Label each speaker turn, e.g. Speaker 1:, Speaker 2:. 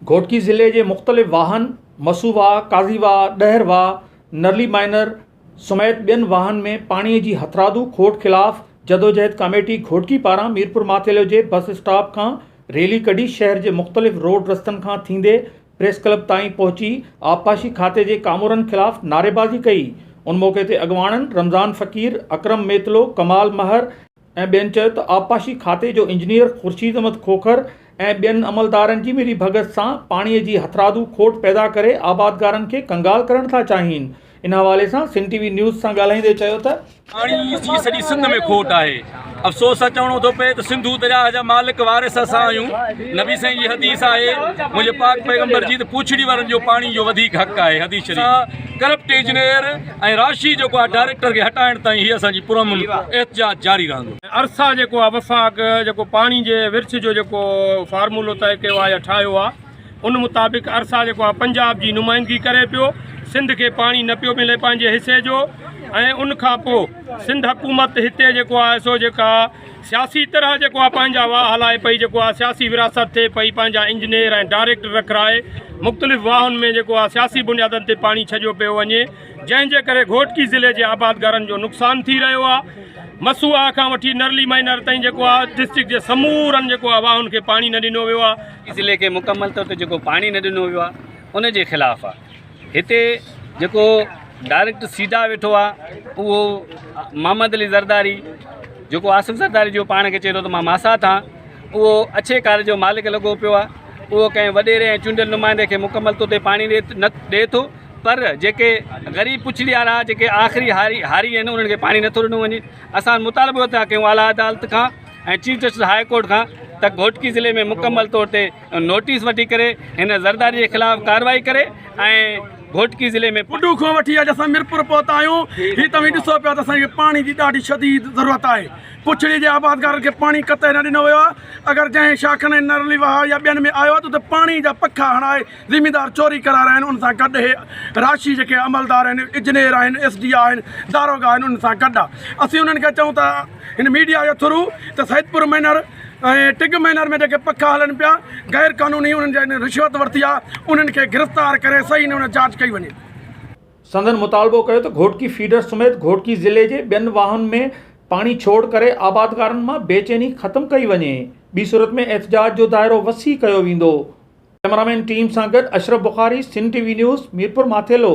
Speaker 1: گهوٽڪي ضلعي جي مختلف واهن مسو واهه، قاضي واهه، ڏهر واهه، نرلي مائنر سميت ٻين واهن ۾ پاڻي جي هٿرادو کوٽ خلاف جدوجهد ڪاميٽي گهوٽڪي پاران ميرپورماٿيلو جي بس اسٽاپ کان ريلي ڪڍي شهر جي مختلف روڊ رستن کان ٿيندي پريس ڪلب تائين پهچي آبپاشي کاتي جي ڪامورن خلاف نعريبازي ڪئي ان موقعي تي اڳواڻن رمضان فقير، اڪرم ميتلو، ڪمال مهر، ۽ ٻين چيو ته آبپاشي کاتي جو انجنيئر خورشيد احمد کوکر ۽ ٻين عملدارن جي ملي ڀڳت سان پاڻي جي هٿرادو کوٽ پيدا ڪري آبادگارن کي ڪنگال ڪرڻ ٿا چاهين ان حوالي سان سنڌ ٽي وي نيوز سان ڳالهائيندي چيو ته پاڻي جي سڄي
Speaker 2: سنڌ ۾ کوٽ آهي افسوس سان چوڻو ٿو پئي ته سنڌو درياهه جا مالڪ وارث اسان آهيون نبي سائين جي حديث آهي منهنجي پاڪ پيغمبر جي ته پوڇڙي وارن جو پاڻي جو وڌيڪ حق آهي حديث شريف ڪرپٽ انجنيئر ۽ راشي جيڪو آهي ڊائريڪٽر کي هٽائڻ تائين هي اسان جي پرامن احتجاج جاري رهندو. ارسا جيڪو آهي
Speaker 3: وفاق جيڪو پاڻي جي ورڇ جو جيڪو فارمولو طئي ڪيو آهي يا ٺاهيو آهي ان مطابق ارسا جيڪو آهي پنجاب جي نمائندگي ڪري پيو سنڌ کي پاڻي نه پيو ملي پنهنجي حصي جو ۽ ان کان پوء سنڌ حڪومت هتي جيڪو آهي سو جيڪا سياسي طرح جيڪو آ پنهنجا واهه هلائي پئي جيڪو آ سياسي ورهاست ٿئي پئي پنهنجا انجنيئر ۽ ڊائريڪٽر رکرائي مختلف واهن ۾ جيڪو آ سياسي بنيادن تي پاڻي ڇڄيو پيو وڃي جنهن جي ڪري گهوٽڪي ضلعي جي آبادگارن جو نقصان ٿي رهيو آ مسواه کان وٺي نرلي مائنر تائين جيڪو آ ڊسٽرڪٽ جي سمورن جيڪو آ واهن کي پاڻي نه ڏنو ويو آ ضلعي کي مڪمل طور
Speaker 4: تي جيڪو پاڻي نه ڏنو ويو آ ان جي خلاف آ هتي جيڪو ڊائريڪٽ سيڌا ويٺو آ اهو محمد علي زرداري جيڪو آصف زرداري جو پاڻ کي چئي ٿو ته مان ماسا ٿا اهو اڇي ڪار جو مالڪ لڳو پيو آ اهو ڪنهن وڏيري ۽ چونڊيل نمائندي کي مڪمل طور تي پاڻي ڏي نه ڏي ٿو پر جيڪي غريب پڇڙي وارا جيڪي آخري هاري هاري آهن انهن کي پاڻي نٿو ڏنو وڃي اسان مطالبو ٿا ڪيون اعليٰ عدالت کان چيف جسٽس هاء ڪورٽ کان ته گهوٽڪي ضلعي ۾ مڪمل طور تي نوٽيس وٺي ڪري هن زرداري جي خلاف ڪارروائي ڪري ۽ گهوٽڪي ضلعي ۾ پٽو کان وٺي اڄ اسان
Speaker 5: ميرپور پهتا آهيون هي توهين ڏسو پيا ته اسان کي پاڻي جي ڏاڍي شديد ضرورت آهي پڇڙي جي آبادگارن کي پاڻي قطع نه ڏنو ويو آهي اگر جنهن شاخن ۽ نرلي واهه يا ٻين ۾ آيو آهي ته اتي پاڻي جا پکا هڻائي زميندار چوري ڪري رهيا آهن ان سان گڏ هي راشي جيڪي عملدار آهن اجنير آهن ايس ڊي آهن داروغا آهن ان سان گڏ آهي اسين انهن کي چئون ٿا هن ميڊيا جي ٿرو ته سيدپور مينر ۽ ٽگ مينر ۾ جيڪي پکا هلن پيا غير قانوني انهن جن رشوت ورتي آهي انهن کي گرفتار ڪري صحيح نموني جاچ ڪئي وڃي. سندن
Speaker 1: مطالبو ڪيو ته گهوٽڪي فيڊر سميت گهوٽڪي ضلعي جي ٻين واهن ۾ پاڻي ڇوڙ ڪري آبادگارن مان بي چيني ختم ڪئي وڃي ٻي صورت ۾ احتجاج جو دائرو وسيع ڪيو ويندو ڪئميرامين ٽيم سان گڏ Ashraf Bukhari Sindh T V news Mirpur Mathelo.